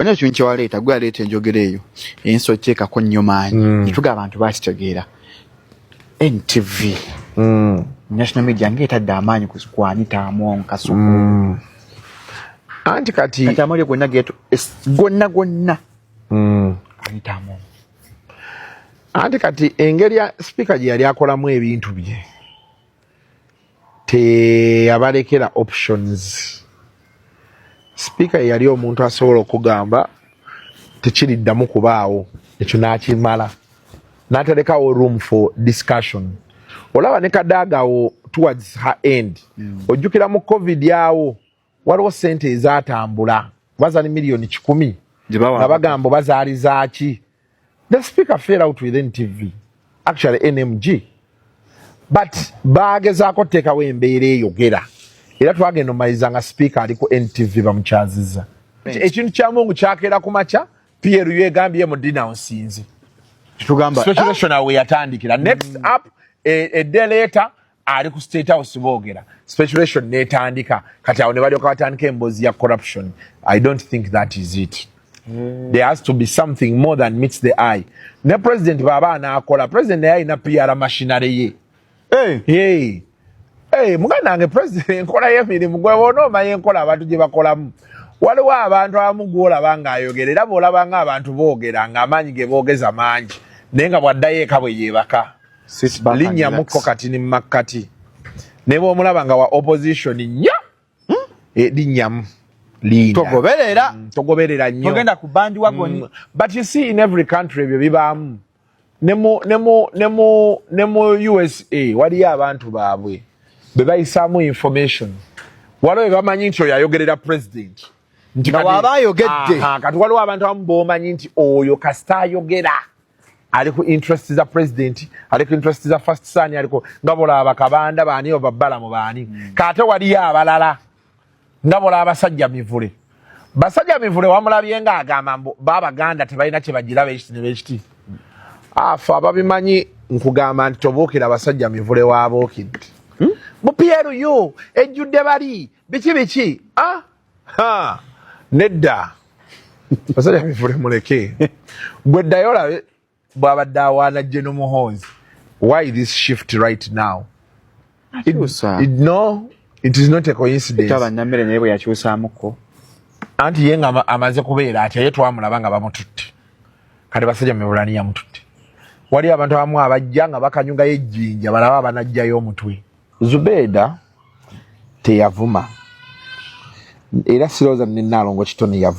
bana ekintu kyewaleeta gwe aleeta enjogera eyo ensi okyekako nnyo maanyi mm. etuga abantu bakitegeera ntv mm. national media nga etadde amaanyi kwanita among kasuku mm. anti kati kati amawulire gonna getu gonna gonna anita among anti kati engeri sipiika gye yali akolamu ebintu bye teyabalekera options sipiika yeyali omuntu asobola okugamba tekiriddamu kubaawo ekyo nakimala natalekawo room for discussion olaba ne kadaagawo towards her end mm. ojjukira mu covid awo waliwo sente ezatambula bazali miliyoni kikumi nga bagamba bazaali zaaki the speaker fail out with ntv actually nmg but bagezaako oteekawo embeera eyogera era twagenda omaliza nga sipiika ali ku ntv bamukyaziza ekintu kya mungu kyakeera ku makya pru egambye mu dinaunsinzi ah! weyatandikira next mm. up edeleeta e, ali ku state house boogera speculation netandika kati awo ne balyoka batandika emboozi ya corruption i don't think that is it mm. there has to be something more than meets the eye ne president baba anaakola president naye alina piara mashinary ye hey. hey. hey, muganda wange president enkola yemirimu gwe bona omanya enkola abantu gye bakolamu waliwo abantu abamu gwolaba nga ayogera era boolabanga abantu boogera nga amaanyi ge boogeza mangi naye nga bwaddayo eka bwe yeebaka linnyamuko kati ni makkati ne bw'omulaba nga wa opposition nnyo hmm? eh, linnyamu togoberera mm, togoberera nnyo togenda ku bandi wagoni mm, but you see in every country ebyo bibaamu ne mu ne mu ne mu ne mu usa waliyo abantu baabwe be bayisaamu information waliwo be bamanyi nti oyo ayogerera president nti waba ayogedde kati waliwo abantu abamu bomanyi nti oyo kasita ayogera ali ku interest za president ali ku interest za first son aliko nga bolaba kabanda baani oba balamu baani mm. kate wali abalala nga bolaba sajja mivule basajja mivule wamulabye nga agamba mbu baba ganda tebalina kye bagira bekiti ne bekiti afa ababimanyi nkugamba nti tobuukira basajja mivule wabuukidde hmm? bu pru ejjudde bali biki biki ah? ha nedda basajja bifule muleke gwe ddayo olabe bwabadde awaana jje nomuhonzi why this shift right now it, it, no it is not a coincidence abanamere naye bwe yakyusamuko anti ye nga amaze kubeera atya ye twamulaba nga bamututte kati basajja mebulani yamututte waliyo abantu abamu abajja nga bakanyugayo ejjinja balaba abanajjayo omutwe zubeeda teyavuma era sirowooza ne nnaalongo kitone yavuma